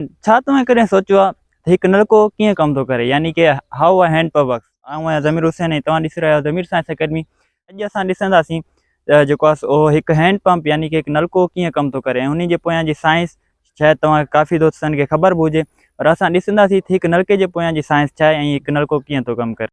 ڇا توهين ڪڏهن سوچيو آهي ته هڪ نلڪو ڪيئن ڪم ٿو ڪري يعني ڪي how a hand pump works. آئون آهيان ضمير حسين ۽ توهان ڏسي رهيا آهيو ضمير سائنس اڪيڊمي اڄ اسان ڏسنداسين ته جيڪو آهي سو اهو هڪ هينڊ پمپ يعني ڪي هڪ نلڪو ڪيئن ڪم ٿو ڪري ۽ انهي جي پويان جي سائنس شايد توهان ڪافي دوستن کي خبر به هجي پر اسان ڏسنداسين ته هڪ نلڪي جي پويان جي سائنس ڇا آهي ۽ هڪ نلڪو ڪيئن ٿو ڪم ڪري.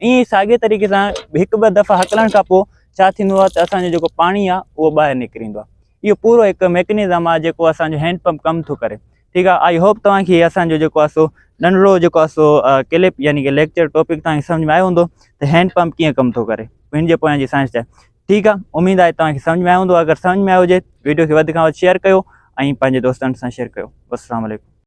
ائين ئي ساڳئي طريقي سان هڪ ٻه دفعا هڪلڻ کان پوء ڇا ٿيندو آهي ته اسان جو جيڪو پاڻي آهي اهو ٻاهر نڪري ايندو آهي اهو پورو هڪ ميڪنزم آهي جيڪو اسانجو هينڊ پمپ ڪم ٿو ڪري ٺيڪ آهي آئي هوپ توهان کي اسانجو جيڪو آهي سو ننڍڙو جيڪو آهي سو ڪلپ يعني ڪي ليڪچر ٽاپڪ توهان کي سمجھ ۾ آيو هوندو ته هينڊ پمپ ڪيئن ڪم ٿو ڪري هن جي پويان جي سائنس چاهي ٺيڪ آهي اميد آهي توهان کي سمجھ ۾ آيو هوندو اگر سمجھ ۾ آيو هجي ويڊيو کي وڌ کان وڌ شيئر ڪيو ۽ پنهنجي دوستن سان شيئر ڪيو السلام علیکم